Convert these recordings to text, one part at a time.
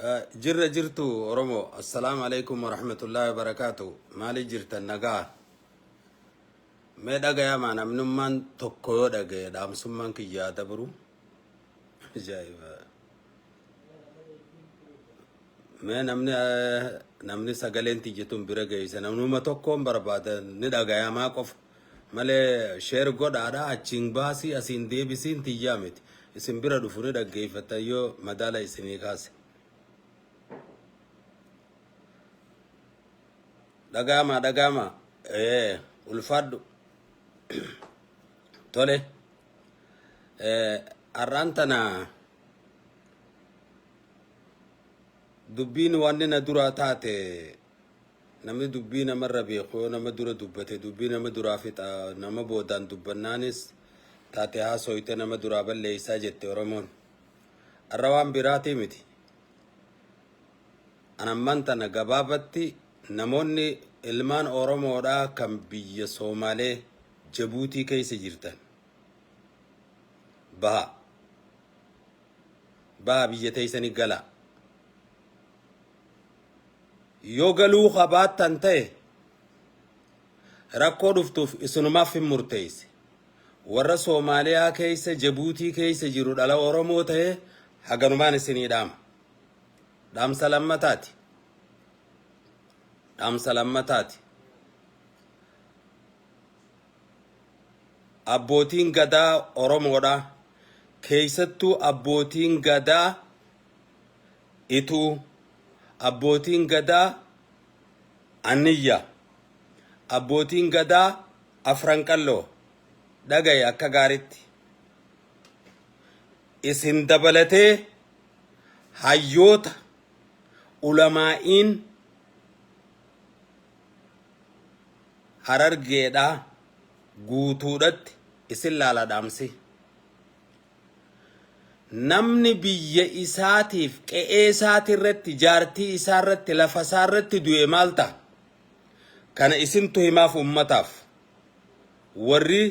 Eh, Jirra jirtu Oromoo. Assalaamu alaikum warahmatullahi wabarakaatu. Maali jirtan nagaa? Mee dhagayamaa namnummaan tokko yoo dhagaye dhaamsummaan kiyyaa dabru. Ajaa'iba. Mee namni eh, namni sagaleen tiyya tun bira geeyse namnuma tokkoon barbaada ni dhagayamaa qofa. malee share godhaadha achiin baasii asiin deebisiin tiyyaa miti isin bira dhufu ni dhaggeeffattan yoo madaala isinii kaase dhagaamaa dhagaamaa ee ulfaadhu tole ee har'aan tana dubbiin wanni na duraa taate Namni dubbii namarra beeku yoo nama dura dubbate dubbii nama duraa fixa nama boodaan dubbannaanis taate haasooyte nama duraa balleeysaa jette Oromoon. Arra waan biraatii miti. An ammaan tana gabaabatti namoonni ilmaan Oromoodhaa kan biyya Soomaalee Jabuutii keessa jirtan baha. Baha biyya teeysanii galaa. yoo galuu ka baattan ta'e rakkoo dhuftuuf isinumaaf hin murteeyse. Warra Soomaaliyaa keeysa Jabuutii keeysa jiru dhala Oromoo ta'e haganumaan isinii dhaama. Dhaamsa lammataati. Dhaamsa lammataati. Abbootiin gadaa Oromoodha. Keeysattuu abbootiin gadaa Ituu, Abbootiin Gadaa Anniyya, Abbootiin Gadaa Afran Qalloo, dhaga'i akka gaaritti. Isin dabalatee hayyoota, ulamaa'iin Harargeedhaa guutuudhatti isin laala dhaamsi. Namni biyya isaatiif, qe'ee isaati irratti, jaartii isaa irratti, lafa isaa irratti du'e maal ta'a? Kana isintu himaaf uummataaf. Warri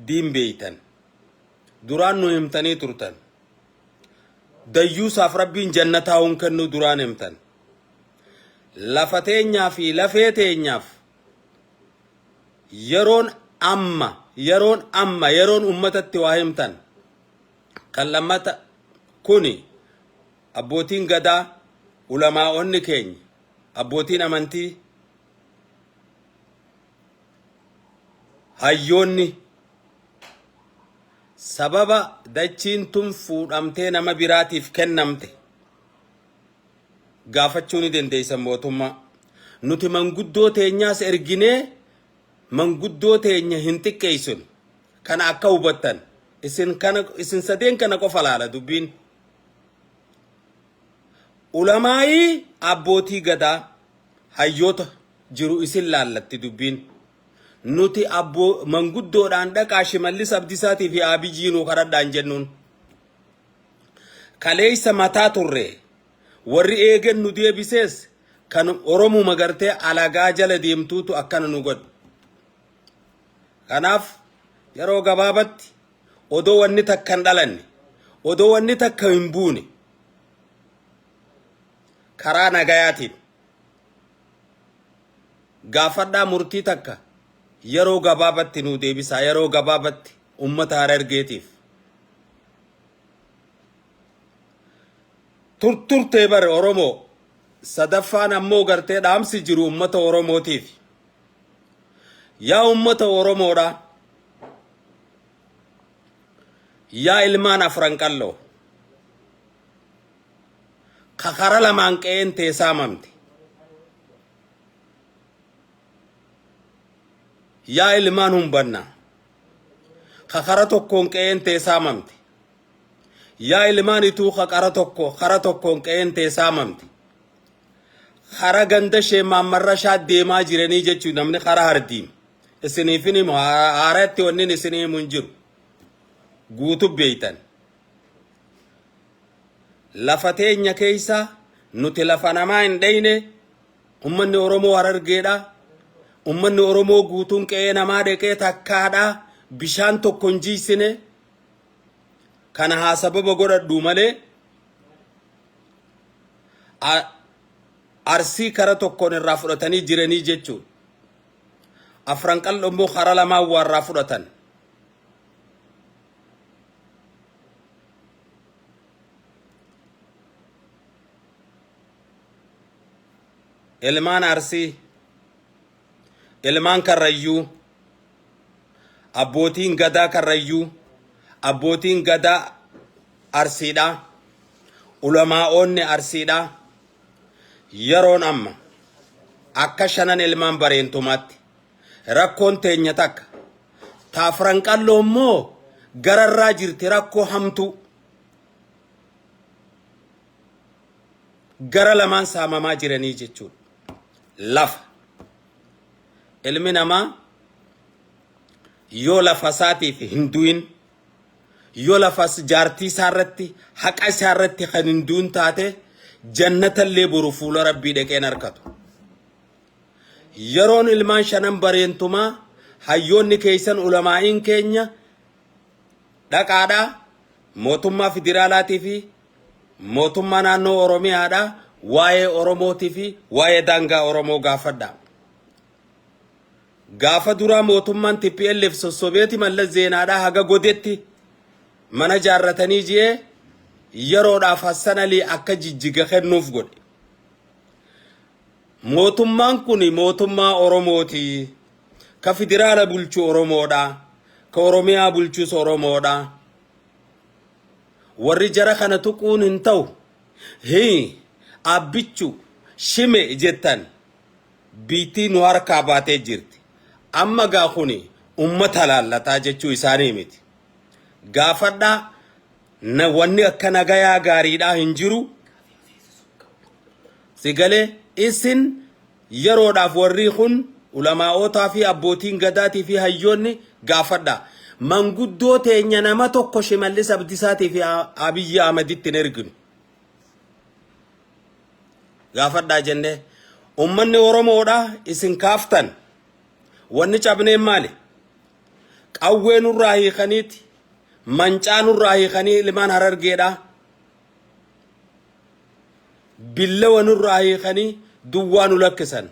diin beeytan. Duraan nu himtanii turtan. Dayyuusaaf Rabbiin jannataa hun kennuu duraan himtan. Lafa teenyaa fi lafee teenyaaf yeroon amma yeroon amma yeroon ummatatti waa himtan kan lammata kuni abbootiin gadaa ulamaa'onni keenya abbootiin amantii hayyoonni sababa dachiin tun fuudhamtee nama biraatiif kennamte gaafachuu ni dandeessan mootummaa. Nuti manguddoo teenyaas erginee manguddoo teenya hin xiqqeessinu. Kana akka hubattan isin kana isin sadeen kana qofa laala dubbiin. Ulamaa'ii abbootii gadaa hayyoota jiru isin laallatti dubbiin. Nuti abboo manguddoodhaan dhaqaa shimallis abdisaatii fi aabijii nuu kadhadhaan jennuun. Kaleessa mataa turre. Warri eegen nu deebisees kan Oromuma gartee alagaa jala deemtuutu akkana nu godhe. Kanaaf yeroo gabaabatti odoo wanni takka hin dhalanne, odoo wanni takka hin buune karaa nagayaatiin gaafadhaa murtii takka yeroo gabaabatti nu deebisaa, yeroo gabaabatti ummata Harargeetiif turturtee bare Oromoo sadaffaan ammoo gartee dhaamsi jiru ummata Oromootiif yaa ummata Oromoodha yaa ilmaan afran qalloo ka kara lamaan qe'een tee saamamte yaa ilmaan humbanna ka kara tokkoon qe'een tee saamamte. Yaa ilmaan ituu ka qara tokko kara tokkoon qe'een tee saamamte. Kara ganda ishee maammarrashaa deemaa jiranii jechuu namni kara hardiim. Isiniifin himu haaratti wannin isin himu hin jiru. Guutu beeytan. Lafa teenya keeysa nuti lafa namaa hin dheyne Ummanni Oromoo Harargeedha. Ummanni Oromoo guutuun qe'ee namaa dheqee takkaadha. Bishaan tokko hin jiisine. Kana haa sababa godhadhu malee arsii kara tokkoon irraa fudhatanii jiranii jechuun afran qal'oo immoo kara lamaan waarraa fudhatan. ilmaan Arsii, ilmaan Karrayyuu, abbootiin gadaa Karrayyuu, abbootiin gadaa Arsiidha, ulamaa'oonni Arsiidha. Yeroon amma akka shanan ilmaan bareentumaatti rakkoon teenya takka taafran qalloo immoo gararraa jirti rakkoo hamtuu. gara lamaan saamamaa jiranii jechuudha. Lafa. Ilmi namaa yoo lafa isaatiif hin du'in, yoo lafa jaartii isaa irratti, haqa isaa irratti kan hin du'in taate, jannata illee boru fuula Rabbii dhaqee hin arkatu. Yeroon ilmaan shanan bareentumaa hayyoonni keessan ulamaa'iin keenya dhaqaadhaa mootummaa federaalaatii fi Mootummaa naannoo Oromiyaadhaa waa'ee Oromootii fi waa'ee daangaa Oromoo gaafadhaa. Gaafa duraa mootummaan TPLF sossobeeti Mallas Zeenaadhaa haga godetti mana jaarratanii ji'ee yeroodhaaf Hassan Alii akka jijjiga kennuuf godhe. Mootummaan kun mootummaa Oromooti. Ka federaala bulchu Oromoodha. Ka Oromiyaa bulchus Oromoodha. Warri jara kana tuquun hin ta'u, hii, Abbichu, Shime jettan biyytii nu harkaa baatee jirti. Amma gaa kuni ummata laallataa jechuu isaanii miti. Gaafadhaa na wanni akka nagayaa gaariidhaa hin jiru. Sigalee isin Yeroodhaaf warrii kun ulamaa'ootaa fi abbootiin gadaatii fi hayyoonni gaafadhaa. Manguddoo teenya nama tokko Shimallis Abdisaatii fi Abiyyi Ahmaditti hin erginu. Gaafadhaa jennee. Ummanni Oromoodha isin kaaftan. Wanni cabneen maali? Qawwee nurraa hiikaniiti. Mancaa nurraa hiikanii ilmaan harargeedha. billawa nurraa hiikanii duwwaa nu lakkisan.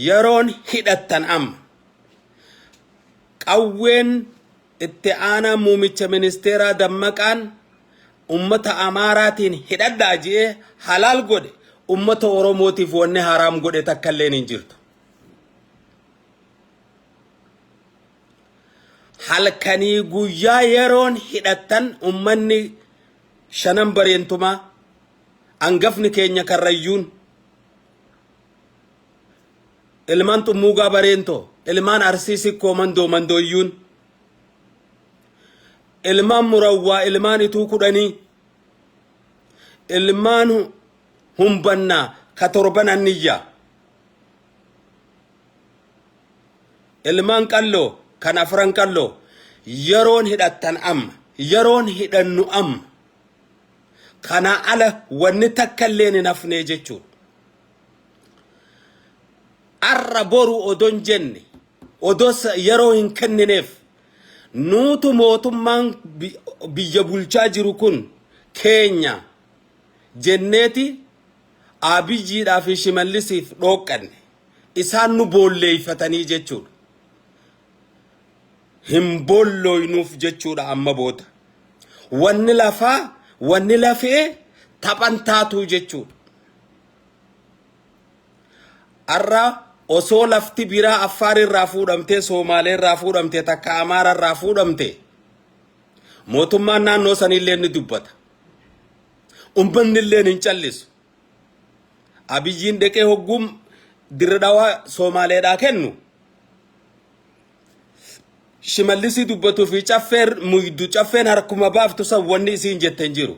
Yeroon hidhattan amma. Qawween itti aanaa muumicha ministeeraa dammaqaan ummata Amaaraatiin hidhadhaa ji'ee halaal godhe ummata Oromootiif wanni haraam godhe takka illeen hin jirtu. halkanii guyyaa yeroon hidhattan ummanni shanan bareentumaa angafni keenya karrayyuun ilmaan xummuugaa bareentoo ilmaan arsii sikkoo mandoo mandooyyuun ilmaan murawwaa ilmaan ituu kudhanii ilmaan humbannaa ka torban anniyyaa Ilmaan qalloo kan afran qalloo yeroon hidhattan amma yeroon hidhannu amma kanaa ala wanni takka illee hin hafnee jechuun arra boru odon jenne odoo yeroo hin kennineef nuutu mootummaan biyya bulchaa jiru kun keenya jenneeti Aabiyyiidhaa fi Shimallisiif dhooqqanne. Isaan nu boolleeyfatanii jechuudha. Hin boollooynuuf jechuudha amma booda. Wanni lafaa, wanni lafee taphan taatuu jechuudha. Har'a osoo lafti biraa Affaar irraa fuudhamtee, Soomaalee irraa fuudhamtee, takka Amaara irraa fuudhamtee, mootummaan naannoo saniillee ni dubbata. Ummanni illeen hin callisu. Abiyyiin deqee hogguu dirre dhawaa Soomaaleedhaa kennu. Shimallisii dubbatuu fi caffeer muydu caffeen harkuma baaftu san wanni isiin jette hin jiru.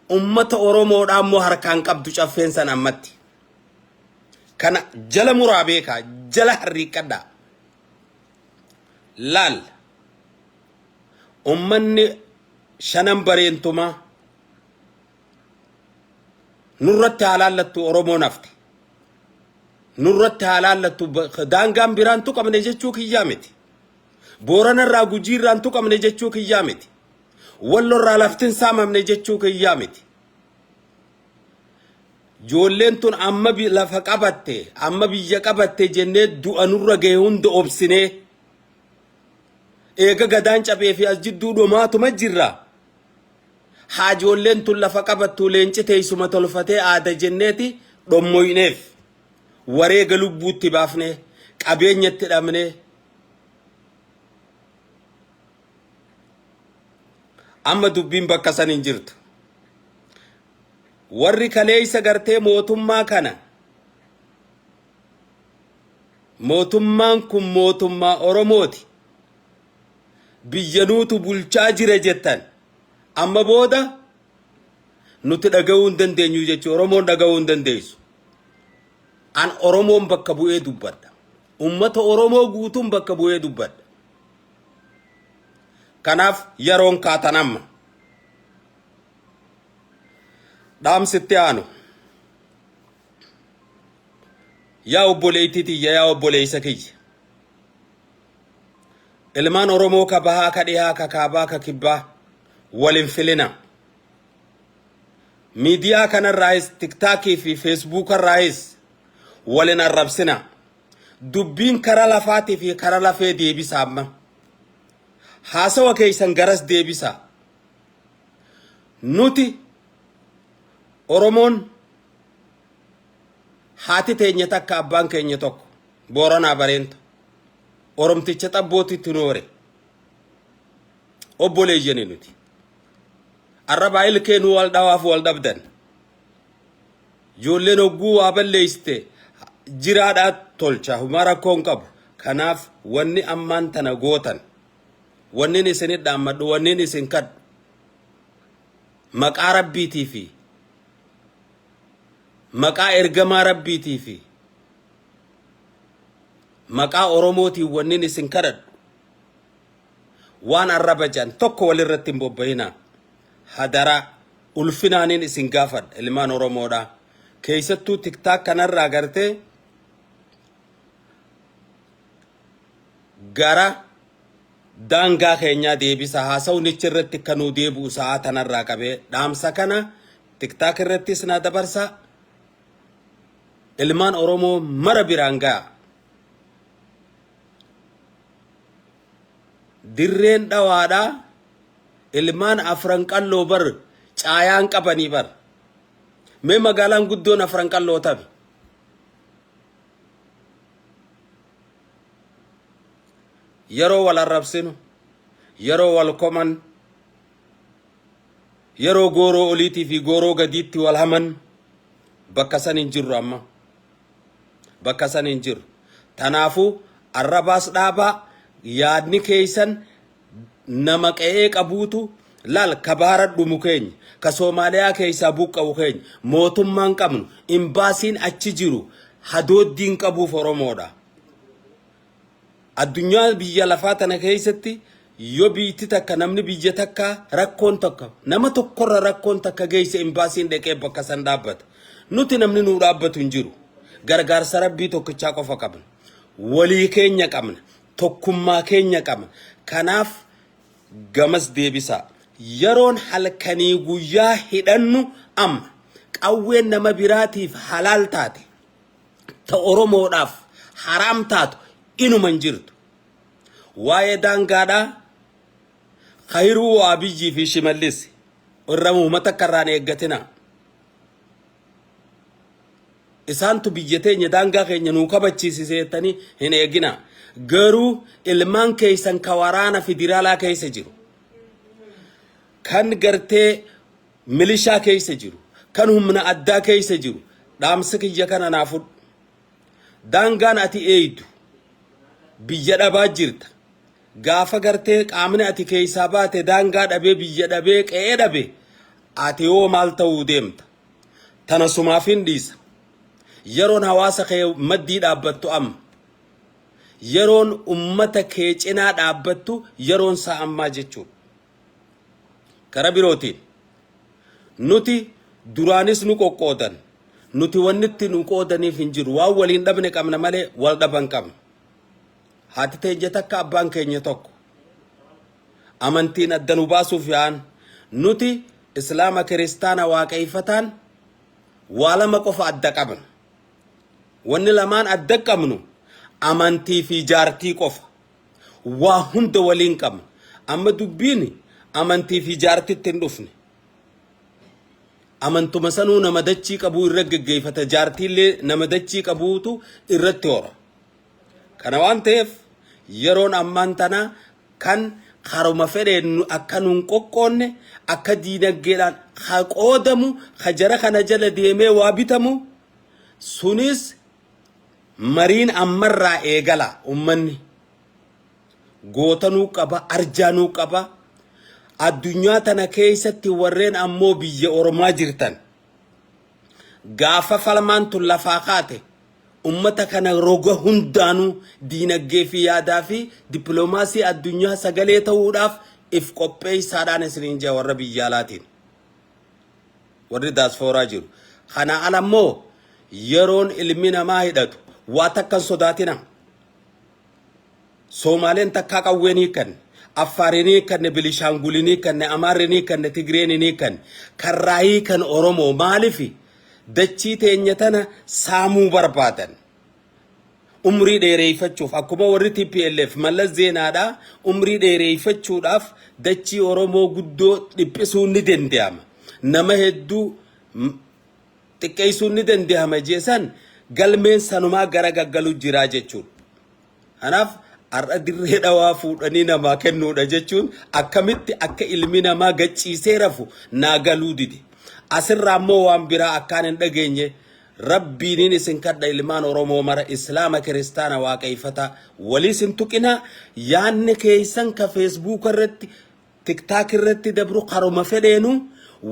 Ummata Oromoodhaa immoo harkaan qabdu caffeen san ammatti. Kana jala muraa beekaa jala harriiqqadhaa. Laal. ummanni shanan bareentumaa nurratti haa laallattu Oromoon hafte. Nurratti haa laallattu ba- daangaan biraan tuqamne jechuu kiyyaa miti. Booranarraa gujiirraan tuqamne jechuu kiyyaa miti. Wallorraa laftin saamamne jechuu kiyyaa miti. Joolleen tun amma bi- lafa qabatte, amma biyya qabatte jennee du'a nurra gahe hunda obsinee. Eega gadaan cabee fi as jidduu dhomaatuma jirra. Haajoolleen tun lafa qabattuu leenci teessuma tolfatee aada jenneeti dhommoyneef. Wareega lubbuutti baafnee, qabeenyatti dhabnee. Amma dubbiin bakka san hin jirtu. Warri kaleessa gartee mootummaa kana Mootummaan kun mootummaa Oromooti. Biyya nuutu bulchaa jira jettan. Amma booda nuti dhaga'uu hin dandeenyu jechuun Oromoon dhaga'uu hin dandeessu. An Oromoon bakka bu'ee dubbadha. Uummata Oromoo guutuun bakka bu'ee dubbadha. Kanaaf yeroon kaatan amma. Dhaamsitti aanu. Yaa obboleettii tiyya yaa obboleessa kiyya. Ilmaan Oromoo ka bahaa ka dhihaa ka kaabaa ka kibbaa wal hin filinaa. Miidiyaa kanarraayis tiktaakii fi feesbuukarraayis wal hin arrabsinaa. Dubbiin kara lafaatii fi kara lafee deebisaa amma. Haasawa keessan garas deebisaa. Nuti Oromoon Haati teenya takka abbaan keenya tokko Booranaa Bareenta Oromticha xabbootti tunoore. Obboleeyyani nuti. Arrabaa ilkee nu wal dhawaaf wal dhabdan. Ijoolleen hogguu waa balleessite jiraadhaa tolcha humaa rakkoo hin qabu. Kanaaf wanni ammaan tana gootan wannin isin dhaammadhu wannin isin kadhu Maqaa Rabbiitii fi Maqaa Ergamaa Rabbiitii fi Maqaa Oromootiin wannin isin kadhadhu waan arraba jedhan tokko walirratti hin bobba'inaa. Hadaraa ulfinaanin isin gaafadha ilmaan Oromoodha. Keessattuu tiktaak kanarraa agartee gara daangaa keenyaa deebisa haasawnichi irratti akka nuu deebi'u sa'aa tanarraa qabee dhaamsa kana tiktaak irrattis naa dabarsa ilmaan oromoo mara biraan ga'a dirreen dhawaadha ilmaan afran qalloo bar caayaan qabanii bar mee magaalaan guddoon afran qalloo tabi yeroo wal arrabsinu, yeroo wal koman, yeroo gooroo oliitii fi gooroo gadiitti wal haman bakka san hin jirru amma. Bakka san hin jirru. Tanaafuu arrabaas dhaabaa yaadni keeysan nama qe'ee qabuutu laal ka baara dhumu keenya ka Soomaaliyaa keeysaa buqqa'u keenya mootummaan qabnu imbaasiin achi jiru hadooddiin qabuuf Oromoodha. Addunyaa biyya lafaa tana keessatti yoo biitti takka namni biyya takka rakkoon tokko nama tokkorra rakkoon takka geesse imbaasiin dhaqee bakka san dhaabbata. Nuti namni nuu dhaabbatu hin jiru. Gargaarsa rabbii tokkichaa qofa qabna. Walii keenya qabna. Tokkummaa keenya qabna. Kanaaf gamas deebisaa. Yeroon halkanii guyyaa hidhannu amma. Qawween nama biraatiif halaal taate. ta Oromoodhaaf haraam taatu inuma hin jirtu. Waa'ee daangaadhaa Kayiruu Abiyyii fi Shimallis irra muhuma takka irraan eeggatina. Isaantu biyya teenya daangaa keenya nuu kabachiisise jettanii hin eegina. Garuu ilmaan keessan ka waraana federaalaa keessa jiru. Kan gartee milishaa keessa jiru, kan humna addaa keessa jiru dhaamsa kiyya kana naa fudhu. Daangaan ati eeydu biyya dhabaa jirta. Gaafa gartee qaamni ati keessaa baate daangaa dhabee biyya dhabee qe'ee dhabe ati hoo maal ta'uu deemta? Tana sumaafin dhiisa. Yeroon hawaasa kee maddii dhaabbattu amma. Yeroon ummata kee cinaa dhaabbattu yeroon isaa ammaa jechuudha. Kara birootiin, nuti duraanis nu qoqqoodan, nuti wanni itti nu qoodaniif hin jiru. Waan waliin dhabne qabna malee wal dhaban qabna. Haati teenya takka abbaan keenya tokko. Amantiin adda nu baasuuf yaa'an. Nuti Islaama Kiristaana Waaqayfataan waa lama qofa adda qabna. Wanni lamaan adda qabnu amantii fi jaartii qofa. Waa hunda waliin qabna. Amma dubbiin amantii fi jaartitti hin dhufne. Amantuma sanuu nama dachii qabuu irra geggeeffata. Jaartiillee nama dachii qabuutu irratti hora. Kana waan ta'eef yeroon ammaan tanaa kan haruma fedheen nu- akka nuun qoqqoonne akka diinaggeedhaan ha qoodamu ha jara kana jala deemee waa bitamu sunis Mariin ammarraa eegala ummanni goota nuu qaba arjaa nuu qaba addunyaa tana keessatti warreen ammoo biyya ormaa jirtan gaafa falmaan tun lafaa kaate ummata kana roga hundaanuu diinaggee fi yaadaa fi dippiloomaasii addunyaa sagalee ta'uudhaaf if qopheessaadhaan isiniin jaa warra biyyaalaatiin. Warri daaspooraa jiru. Kanaa ala immoo yeroon ilmi namaa hidhatu waa takka hin sodaatinaa. Soomaaleen takkaa qawwee hin hiikkanne. Affaar hin hiikkanne, Bilishaangul hin hiikkanne, Amaarri hin hiikkanne, Tigreen hin hiikkanne. Karraa hiikan Oromoo maalifi dachii teenya tana saamuu barbaadan. umrii dheereeffachuuf akkuma warri TPLF mallas zeenaadhaa umrii dheereeffachuudhaaf dachii Oromoo guddoo dhiphisuun ni danda'ama. Nama hedduu xiqqeessuun ni danda'ama jeesan galmeen sanumaa gara gaggalu jiraa jechuudha. Kanaaf har'a dirree dhawaa fuudhanii namaa kennuudha jechuun akkamitti akka ilmi namaa gachiisee rafu naa galuu dide. Asirraa immoo waan biraa akkaan hin dhageenye rabbiiniin isin kadha ilmaan Oromoo mara Islaama kiristaana waaqayfataa waliis hin tuqinaa yaanni keeysan ka feesbuuka irratti tiktaak irratti dabru karuma fedheenu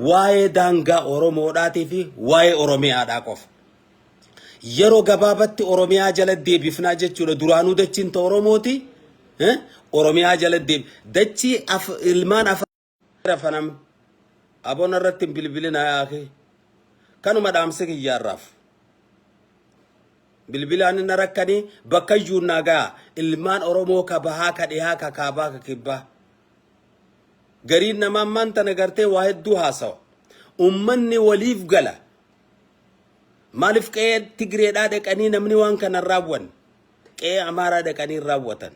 waa'ee daangaa Oromoodhaatii fi waa'ee Oromiyaadhaa qofa. Yeroo gabaabatti Oromiyaa jala deebifnaa jechuudha. Duraanuu dachiin ta Oromooti. eh, Oromiyaa jala deeb dachii af ilmaan afaan rafanam abona irratti hin bilbilinaa yaakee. Kanuma dhaamsi kiyyaarraaf. Bilbilaan inni rakkanii bakka iyyuu naa ga'a. Ilmaan Oromoo ka bahaa ka dhihaa ka kaabaa ka kibbaa. Gariin namaa ammaan tana gartee waa hedduu haasawa. Ummanni waliif gala. Maalif qe'ee Tigireedhaa dhaqanii namni waan kana hin raawwanne? Qe'ee Amaaraa dhaqanii hin raawwatan.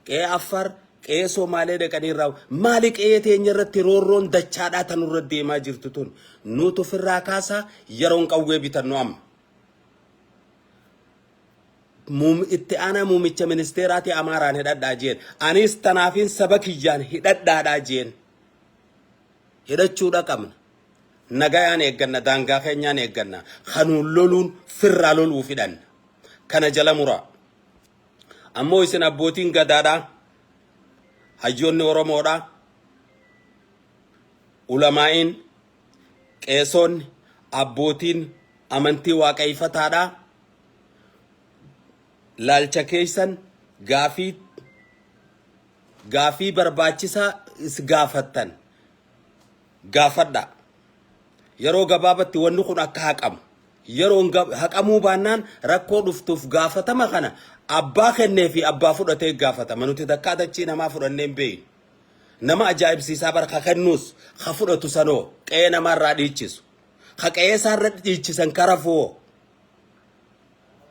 Qe'ee Affaar, qe'ee Somaalee dhaqanii hin raawwatan. Maali qe'ee teenya irratti roorroon dachaadhaa tan irra deemaa jirtu tun? Nuutu ofirraa kaasaa yeroon qawwee bitannu amma. Muum- Itti aanaa muumicha ministeeraati Amaaraan hidhadhaa jeen. Anis tanaafiin saba kiyyaan hidhadhaadhaa jeen. Hidhachuudha qabna. Nagayaan eegganna, daangaa keenyaan eegganna. Ka nuun loluun firraa loluuf hidhanna. Kana jala muraa. Ammoo isin abbootiin gadaadhaa, hayyoonni Oromoodhaa, ulamaa'iin, qeesoonni, abbootiin amantii waaqayyifataadhaa laalcha keessan gaafii gaafii barbaachisaa is gaafattan gaafadhaa. Yeroo gabaabatti wanni kun akka haqamu. Yeroon gab- haqamuu baannaan rakkoo dhuftuuf gaafatama kana abbaa kennee fi abbaa fudhatee gaafatama. Nuti takkaa dachii namaa fudhannee hin beeynu. Nama ajaa'ibsiisaa bara ka kennuus ka fudhatu sanoo qe'ee namaarraa dhiichisu. Ka qe'ee isaarra dhiichisan karafuwoo.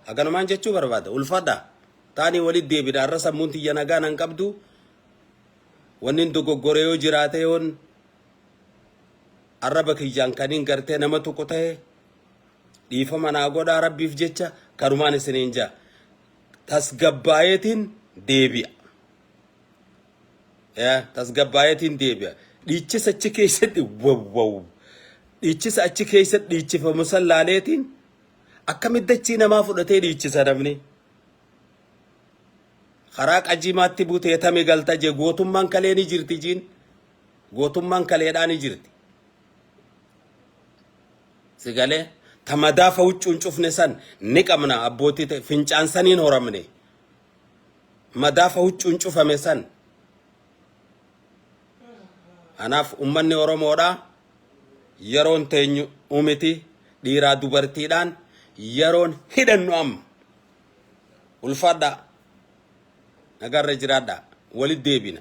Haganumaan jechuu barbaada. Ulfadha. Taanii walitti deebina. Har'a sammuun tiyya nagaa nan qabdu. Wannin dogoggore yoo jiraate yoon arraba kiyyaan kanin gartee nama tuqu ta'e dhiifama naa godhaa rabbiif jecha kanumaan isiniin jaa tasgabbaayeetiin deebi'a. Yaa tasgabbaayeetiin deebi'a. Dhiichisa achi keessatti wawwaw. Dhiichisa achi keessatti dhiichifamu san laaleetiin akkamitti achii namaa fudhatee dhiichisa namni. Karaa qajiimaatti butee tame galta je gootummaan kalee ni jirti jiin gootummaan kaleedhaa ni jirti. Sigalee ta madaafa huccuun cufne san ni qabna abbootii ta'e fincaan saniin horamne. Madaafa huccuun cufame san. Kanaaf ummanni Oromoodhaa yeroon teenyu umiti dhiiraa dubartiidhaan yeroon hidhannu amma. Ulfaadhaa. Nagaarra jiraadhaa. Walit deebina.